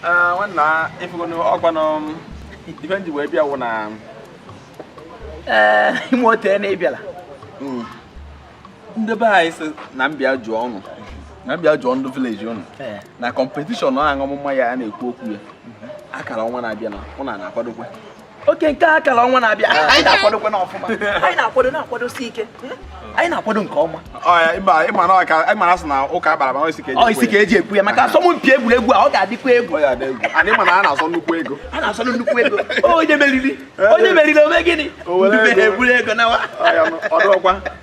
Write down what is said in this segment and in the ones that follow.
Ah, nwanna ịfụgonu ọkwanụ ife m ji wee bịa wụ na ee ime otu na ịbịala mm, ndị be anyị sị na mbịa jụọ ụnụ na mbịa jụọ ndị village ụnụ Ee. na competition ahụ ọmụma ya a na-ekwu okwu ya a kara ọnwa na-abịa na ụnụ na-akwadokwa okay nke a kara ọnwa na-abịa anyị na-akwadokwa n'ọfụma anyị na-akwado na-akwadosi ike hmm? anyị na-akwado nke ọma ịmara sị na ụka akpara ma isi ka eji isi ka eji ekwe ya maka asọmpi egwuregwu a ọ ga-adịkwa egwu anyị ma na a na-asọ nnukwu ego a na-asọ nnukwu ego onye meriri onye meriri o me gịnị ndị be ha eburu ego nawa ọ dụkwa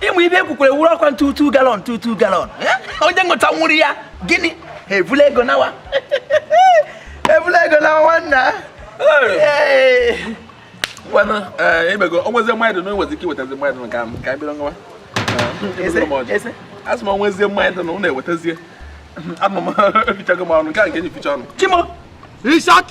ịmụ ibe ekwukwere wuru ọkwa ntutu gallon ntutu gallon eh? onye ngụta nwụrụ ya gịnị ha ebula ego nawa ebula ego nawa nwanna ngwanụ eh, emego onwezi mmadụ na onwezi ike iwetazi mmadụ nke ahụ ka bịara nwa asị m onwezie mmadụ na ụnụ ewetazie anụ m fichago m ụnụ nke a nke enyi ficha ụnụ chimo richard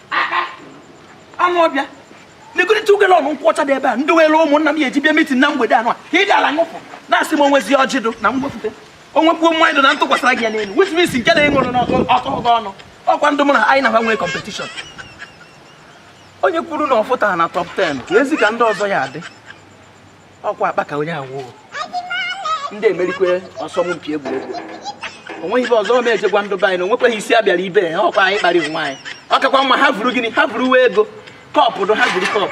anụ ọbịa legorịta ugele ọnụ nkwụ ọcha dị ebe a ndị were ụmụnna m ya eji bịa meeting na mgbede anụ a ka ị gara ṅụpụ na asị m onwezi ọjị dụ na m wepụta onwekwu mmanya dụ na ntụkwasịra gị ya n'elu with mis nke na ịṅụrụ n'ọtọ ọgọ ọnụ ọkwa ndị mụ na anyị na-agba nwee competition onye kwuru na ọ fụtara na top 10 ka ezi ka ndị ọzọ ya adị ọkwa akpa ka onye awụ ndị emerikwe asọmpi egwuregwu onweghị ibe ọzọ m eje gwa ndị be anyị na onwekweghị isi abịara ibe a ọkwa anyị kparị onwe anyị ọ kakwa mma ha vuru gịnị ha vuruwe ego cup dụ ha vuru cup